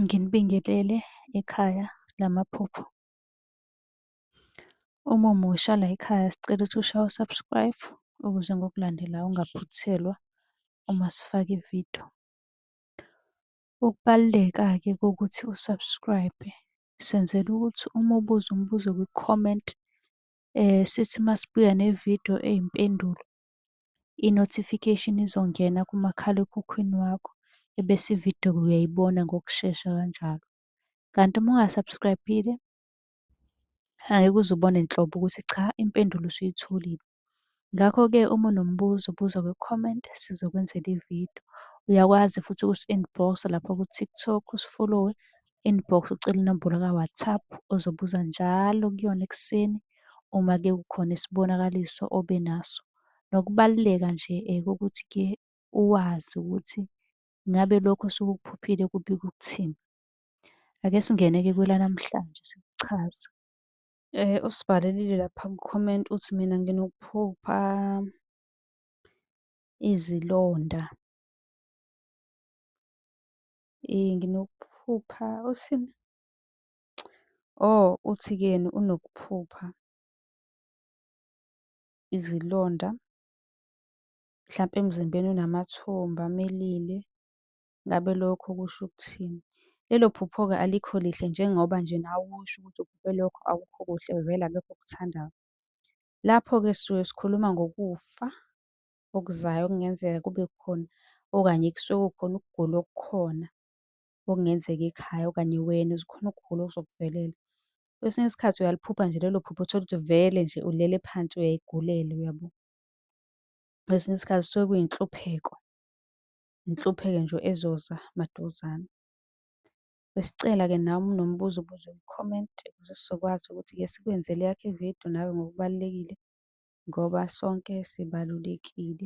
Nginibingelele ekhaya lamaphupho. Uma umusha layikhaya sicela ukuthi ushaye u-subscribe ukuze ngokulandelayo ungaphuthelwa uma sifaka ividiyo. Ukubaluleka-ke kokuthi u-subscribe senzela ukuthi uma ubuza umbuzo kwi-comment sithi masibuya nevidiyo eyimpendulo i-notification izongena kumakhalekhukhwini wakho ebese ividiyo uyayibona ngokushesha kanjalo. Kanti uma unga-subscribe-ile angeke uze ubone nhlobo ukuthi cha impendulo usuyitholile. Ngakho-ke uma unombuzo buza kwi-comment sizokwenzela ividiyo. Uyakwazi futhi ukusi-inbox-a lapha ku-TikTok usifolowe inbox ucele inombolo ka-WhatsApp ozobuza njalo kuyona ekuseni uma ke kukhona isibonakaliso obe naso. Nokubaluleka nje kokuthi-ke uwazi ukuthi ngabe lokho osuke ukuphuphile kubika ukuthini. Ake singene-ke kwelanamhlanje sikuchaza. Usibhalelile lapha ku-comment uthi mina nginokuphupha izilonda. Nginokuphupha uthini? Oh, uthi-ke yena unokuphupha izilonda mhlampe emzimbeni unamathumba amilile, ngabe lokho kusho ukuthini? Lelo phupho-ke alikho lihle njengoba nje nawe usho ukuthi uphuphe lokho akukho kuhle vele akekho okuthandayo. Lapho-ke sisuke sikhuluma ngokufa okuzayo okungenzeka kube khona okanye kusuke kukhona ukugula okukhona okungenzeka ekhaya okanye wena uze khona ukugula okuzokuvelela. Kwesinye isikhathi uyaliphupha nje lelo phupho uthole ukuthi vele nje ulele phansi uyayigulela, uyabo? Kwesinye isikhathi kusuke kuyinhlupheko, inhlupheko nje ezoza maduzane. Besicela ke nawe uma unombuzo ubuze ku-comment ukuze sizokwazi ukuthi-ke sikwenzele eyakho i-video nawe ngokubalulekile ngoba sonke sibalulekile.